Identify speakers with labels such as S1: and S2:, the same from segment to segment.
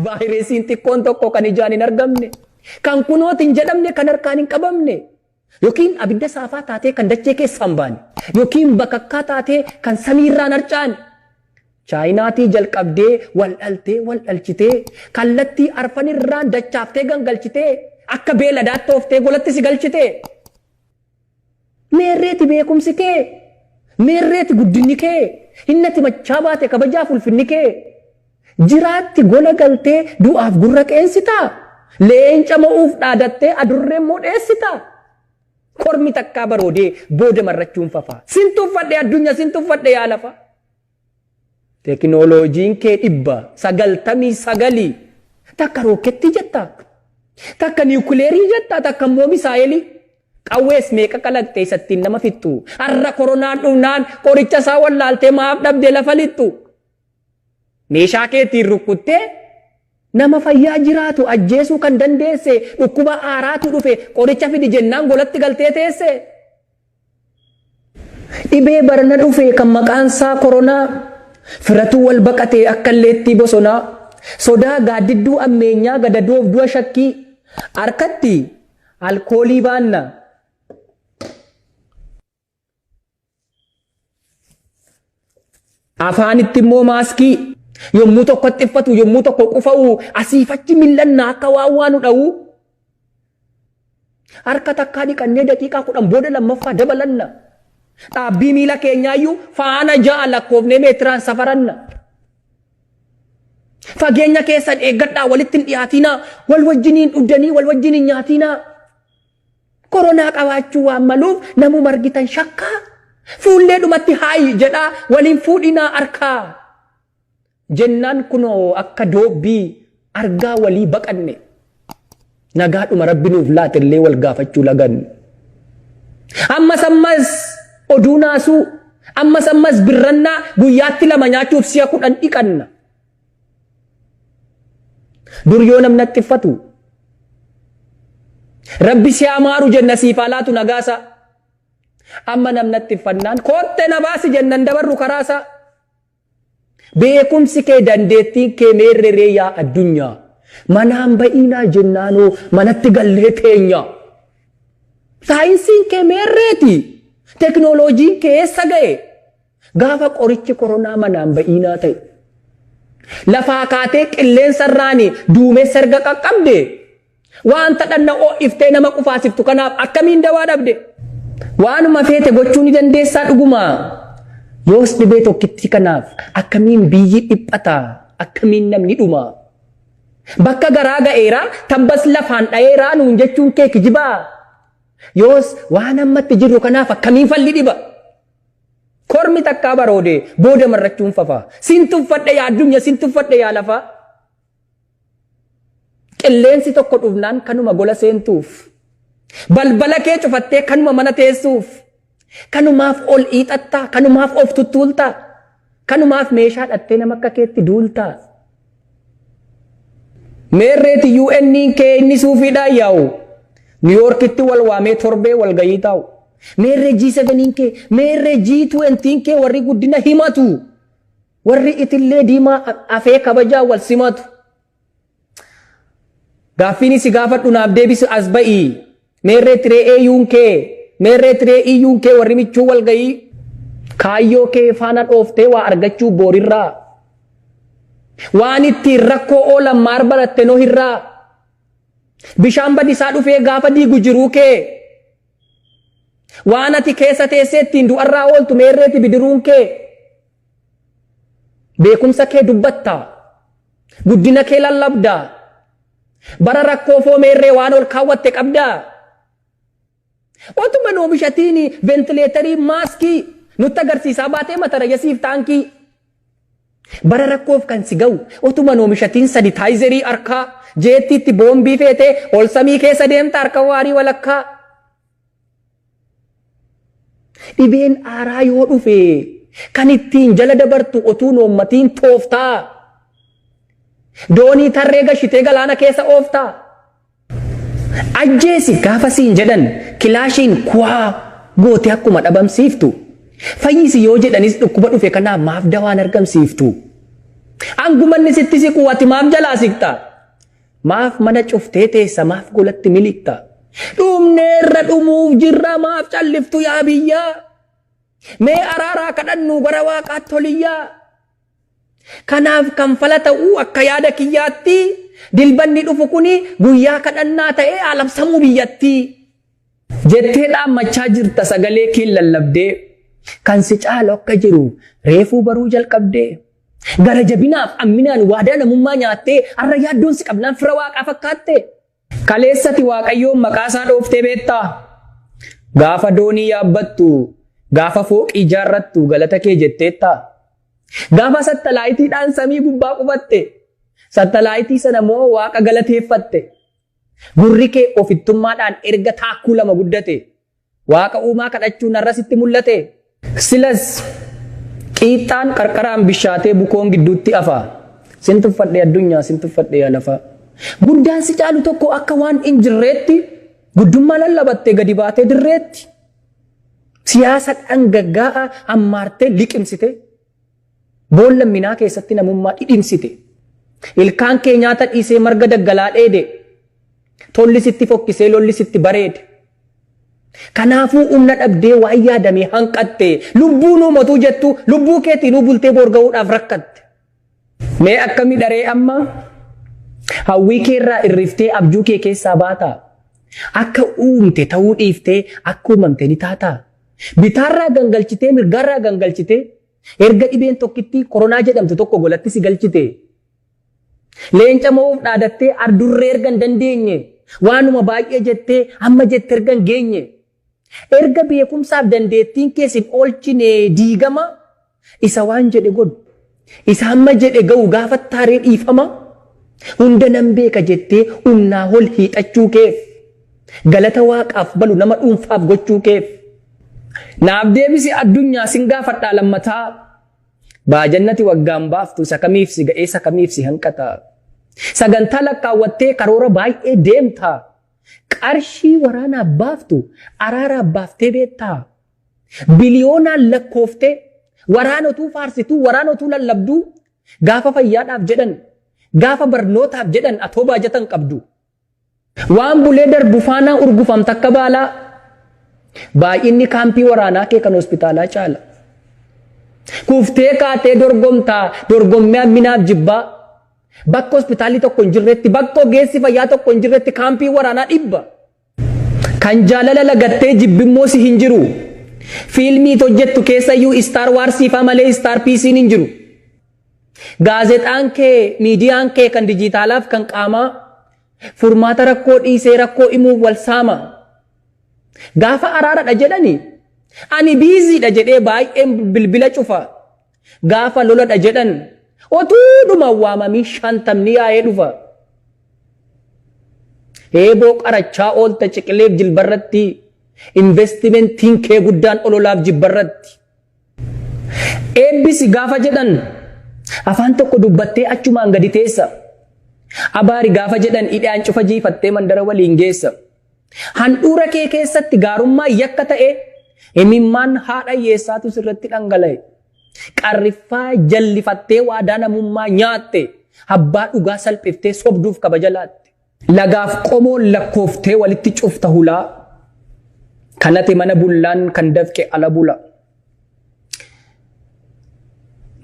S1: Vaayiresiin xiqqoon tokko kan ijaan hin argamne, kan kunoot hin jedhamne, kan harkaan hin qabamne, yookiin abidda saafaa taatee kan dachee keessaa hin baane, yookiin bakakkaa taatee kan samiirraa hin harcaane, Chaayinaatii jalqabdee waldhaltee waldhalchitee kallattii arfanirraan dachaaftee gangalchitee akka beeladaatti ooftee golatti si galchite. Meerreeti beekumsi kee? Meerreeti guddinni kee? Hinnati machaa baate kabajaaf ulfinni kee? Jiraatti gola galtee du'aaf gurra qeensitaa? Leenca mo'uuf dhaadattee adurree immoo dheessitaa? Kormi takkaa baroodee booda marrachuun fafaa? Sin tuffadhe addunya sin tuffadhe yaa lafa. Tekinooloojiin kee dhibba sagaltamii sagalii takka rookketti jettaa? Takka niwukileerii jettaa? Takka immoo misaa'elii? Qawwees meeqa kalaqxe isa ittiin nama fixxu? Har'a koronaan dhufnaan qoricha isaa wallaaltee maaf dhabde lafa lixxu? Meeshaa kee ittiin rukkuttee nama fayyaa jiraatu ajjeesuu kan dandeesse dhukkuba haaraatu dhufe qoricha fidi jennaan golatti galtee teesse? Dhibee barana dhufee kan maqaan isaa koronaa firatuu wal baqatee akka illeettii bosonaa sodaa gaaddidduu ammeenyaa gadadoof du'a shakkii harkatti alkoolii baanna. Afaanitti immoo maaskii yommuu tokko xiffatu yommuu tokko qufa'u asiifachi mil'annaa akka waan waanu dha'u harka takkaa dhiqannee daqiiqaa kudhan booda lammaffaa dabalanna. Dhaabbii miila keenyaayyuu faana ja'a lakkoofnee meetiraan safaranna. Fageenya keessan eeggadhaa walitti hin dhiyaatinaa wal wajjiniin dhuddanii wal wajjiniin nyaatinaa. Koronaa qabaachuu waan maluuf namuma argitan shakkaa fuullee dhumatti haayi jedhaa waliin fuudhinaa arkaa jennaan kunoo akka doobbii argaa walii baqanne. Nagaadhuma rabbi nuuf laatellee wal gaafachuu laganne. Ammas ammas oduu naasuu ammas ammas birrannaa guyyaatti lama nyaachuuf si'a kudhan dhiqanna. Dur yoo namni haxxiffatu rabbi si haa maaru jenna siif haa laatu nagaasaa. Amma namni haxxiffannaan kootte na baasi jennan dabarru karaasaa. Beekumsi kee dandeettiin kee meerreree yaa addunyaa. Manaan ba'iinaa jennaanoo manatti gallee teenyaa. Saayinsiin kee meerreeti teknooloojiin kee eessa ga'e? Gaafa qorichi koronaa manaan ba'iinaa ta'e, lafaa kaatee qilleensa irraan duumessa erga qaqqabde, waanta dhanna oo'iftee nama qufaasiftu kanaaf akkamiin dawaa dhabde? Waanuma feete gochuu ni dandeessaa dhugumaa? Yoos dhibee tokkittii kanaaf akkamiin biyyi dhiphata? Akkamiin namni dhuma? Bakka garaa ga'eera, tabbas lafaan dha'eeraa nuun jechuun kee kijibaa? Yoos waan ammatti jirru kanaaf akkamiin falli dhiba? Kormi takkaa baroodee booda marrachuun fafaa. Sin tuffadhe yaa addunyaa sin tuffadhe yaa lafaa. Qilleensi tokko dhufnaan kanuma gola seentuuf. Balbala kee cufattee kanuma mana teessuuf. Kanumaaf ol iixattaa kanumaaf of tuttuultaa. Kanumaaf meeshaa dhattee nama akka keetti duultaa? Meerreeti UN'n kee inni suufiidhaan yaa'u. Niwuyoorkitti wal waamee torbee wal gahii taa'u. Meerree G7n kee, meerree G20n kee warri guddina himatu. Warri itillee diimaa afee kabajaa wal simatu. Gaaffiin si gaafadhu naaf deebisi as ba'i. Meerree tiree eeyuun kee meerree tiree iyyuun kee warri michuu wal ga'ii. Kaayyoo kee faana dhooftee waa argachuu boorirraa. Waan ittiin rakkoo oolan maar baratte nohirraa. Bishaan badisaa dhufee gaafa diigu jiruu kee. Waan ati keessa teessee ittiin du'arraa ooltu meerreeti bidiruun kee. Beekumsa kee dubbatta. Guddina kee lallabda. Bara rakkoo foo meerree waan ol kaawwatte qabda. Otuma hin oomishatiin ventileetarii maaskii nutti agarsiisaa baatee matarayasiif taankii. Bara rakkoof kan si ga'u otuma hin oomishatiin sanitaayizerii harkaa jeettiitti boombii feetee ol samii keessa deemta harka waarii walakkaa. Dhibeen aaraa yoo dhufe kan ittiin jala dabartu otuu hin oommatiin tooftaa? Doonii tarree gashitee galaana keessa ooftaa? Ajjeesi gaafa siin jedhan kilaashiin kuwaa gootee akkuma dhabamsiiftu, fayyisi yoo jedhanis dhukkuba dhufe kanaaf maaf dawaa hin argamsiiftu? Hanguma inni sitti siquu ati maaf jalaa siqxa? Maaf mana cuftee teessa maaf golatti miliqxa? Dhumneerra dhumuuf jirra maaf calliftu yaa biyyaa? Mee araaraa kadhannuu gara waaqaatti holiyyaa? Kanaaf kan fala ta'uu akka yaada kiyyaatti dilbanni dhufu kuni guyyaa kadhannaa ta'ee haa labsamuu biyyattii. Jettee dhaammachaa jirta sagalee keen lallabdee kan si caalu akka jiru reefuu baruu jalqabdee gara jabinaaf amminaan waadaa namummaa nyaattee har'a yaaddoon si qabnaan fira waaqaa fakkaatte kaleessati waaqayyoon maqaasaa dhooftee beektaa gaafa doonii yaabbattu gaafa fooqii ijaarrattu galata kee jetteetta gaafa sattalaayitiidhaan samii gubbaa qubatte sattalaayitii sana moo waaqa galateeffatte Gurri kee ofittummaadhaan erga taakkuu lama guddate, Waaqa uumaa kadhachuu narra sitti mul'ate? Silas qiixxaan qarqaraan bishaatee bukoon gidduutti hafa. Sin tuffadhe addunyaa, sin tuffadhe yaa lafaa. Guddaan si caalu tokko akka waan hin jirreetti, guddummaa lallabattee gadi baatee dirreetti. Siyaasa dhangaggaa'aa ammaartee liqimsitee. Boolla minaa keessatti namummaa dhidhimsite. Ilkaan kee nyaata dhiisee marga daggalaa dheede. Tolli sitti fokkisee lolli sitti bareede. Kanaafuu humna dhabdee waan yaadamee hanqatte. Lubbuu nuu motuu jettu lubbuu keetiinuu bultee boor gahuudhaaf rakkatte. Mee akkami dharee amma hawwii keerraa irriftee abjuu kee keessaa baataa? Akka uumte ta'uu dhiiftee akka uumamte ni taataa? Bitaarraa gangalchitee mirgaarraa gangalchitee erga dhibeen tokkittii koronaa jedhamtu tokko golatti si galchitee leenca mo'uuf dhaadattee ardurree erga hin dandeenye waanuma baay'ee jettee amma jette erga hin geenye erga beekumsaaf dandeettiin kee sin oolchine diigama Isa waan jedhe godhu, isa hamma jedhe ga'u gaafattaa ree dhiifama? Hunda nan beeka jettee humnaa ol hiixachuu keef, galata Waaqaaf malu nama dhuunfaaf gochuu keef. Naaf deebisi addunyaa sin gaafadhaa lammataa? Baajannati waggaan baaftu isa kamiif si ga'ee isa kamiif si hanqata? Sagantaa lakkaawwattee karoora baay'ee deemta. Qarshii waraanaaf baaftu araaraaf baaftee beektaa? Biliyoonaan lakkooftee waraana utuu faarsituu, waraana utuu lallabduu gaafa fayyaadhaaf jedhan, gaafa barnootaaf jedhan atoo baajata hin qabdu. Waan bulee darbu faanaa urgufamta akka baalaa. Baay'inni kaampii waraanaa kee kan hospitaalaa caala. Kuftee kaatee dorgomtaa, dorgommii hamminaaf jibbaa. Bakka hospitaalli tokko hin jirretti, bakka ogeessi fayyaa tokko hin jirretti kaampii waraanaa dhibba. Kan jaalala lagattee jibbimmoo si hin jiru. Fiilmii it hojjettu keessayyuu istaar waarsiifaa malee istaar piisiin hin jiru. Gaazexaan kee, miidiyaan kee kan dijiitaalaaf kan qaamaa furmaata rakkoo dhiisee rakkoo imuuf wal saama. Gaafa araaradha jedhani ani biiziidha jedhee baay'een bilbila cufa. Gaafa loladha jedhan otuudhuma waamamii shantamni yaa'ee dhufa. Eeboo qarachaa oolta ciqileef jilbarratti investimentiin kee guddaan ololaaf jibbarratti. Eebbisi gaafa jedhan afaan tokko dubbattee achumaan gadi teessa. Abaari gaafa jedhan idhaan cufa jiifattee mandara waliin geessa. Handhuura kee keessatti gaarummaan yakka ta'ee imimmaan haadha hiyyeessaatu sirratti dhangala'e. Qarriffaa jallifattee waadaa namummaa nyaatte abbaa dhugaa salphiftee sobduuf kabaja laatte. Lagaaf qomoon lakkooftee walitti cufta hulaa kan ati mana bullaan kan dafqe ala bula.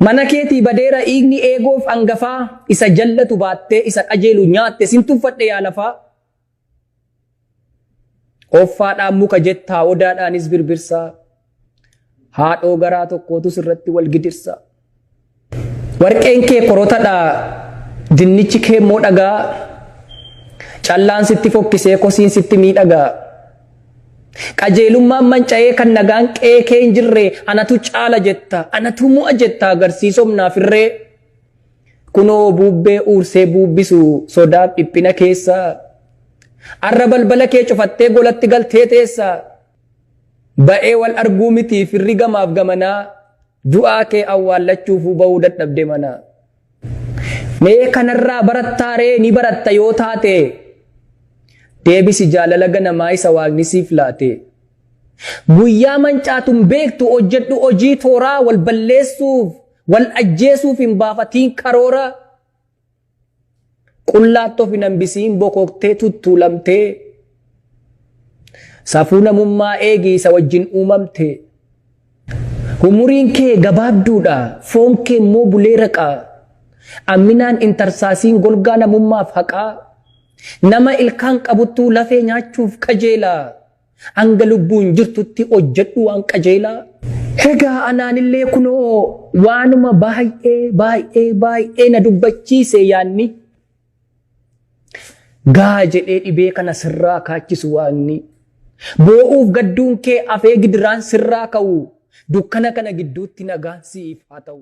S1: Mana keetii badeera dhiigni eegoof angafaa isa jallatu baattee isa qajeelu nyaatte sin tuffadhe yaa lafaa. Offaadhaan muka jettaa odaadhaanis birbirsaa haadhoo garaa tokkootus irratti wal gidirsaa. Warqeen kee korotadha dinnichi kee immoo dhagaa callaan sitti fokkisee kosiin sitti miidhagaa. Qajeelummaan manca'ee kan nagaan qe'ee kee hin jirre anatu caala jetta anatu mo'a jetta agarsiisomnaaf irree. Kunoo buubbee uursee buubbisu sodaaf dhiphina keessa. Arra balbala kee cufattee golatti galtee teessa. Ba'ee wal arguu miti firri gamaaf gamanaa. Du'aa kee awwaallachuufuu ba'uu dadhabde mana. Mee kanarraa barattaa ree ni baratta yoo taate. Deebisi jaalala ganamaa isa waaqni siif laate. Guyyaa mancaatun beektu hojjedhu hojii tooraa wal balleessuuf Wal ajjeesuuf hin baafatiin karoora. Qullaatti of hin hambisiin bokoktee tuttuulamtee. Safuu namummaa eegi isa wajjin uumamte. Umuriin kee gabaabduudha, foon kee immoo bulee raqaa. Amminaan intarsaasiin golgaa namummaaf haqaa. Nama ilkaan qabuttuu lafee nyaachuuf qajeelaa. Hanga lubbuun jirtutti hojjedhu waan qajeelaa. Egaa anaanillee kunoo waanuma baay'ee baay'ee baay'ee na dubbachiise yaanni. Gaa jedhee dhibee kana sirraa kaachisu waaqni. Boo'uuf gadduun kee afee gidiraan sirraa ka'u dukkana kana gidduutti nagaan siif haa ta'u.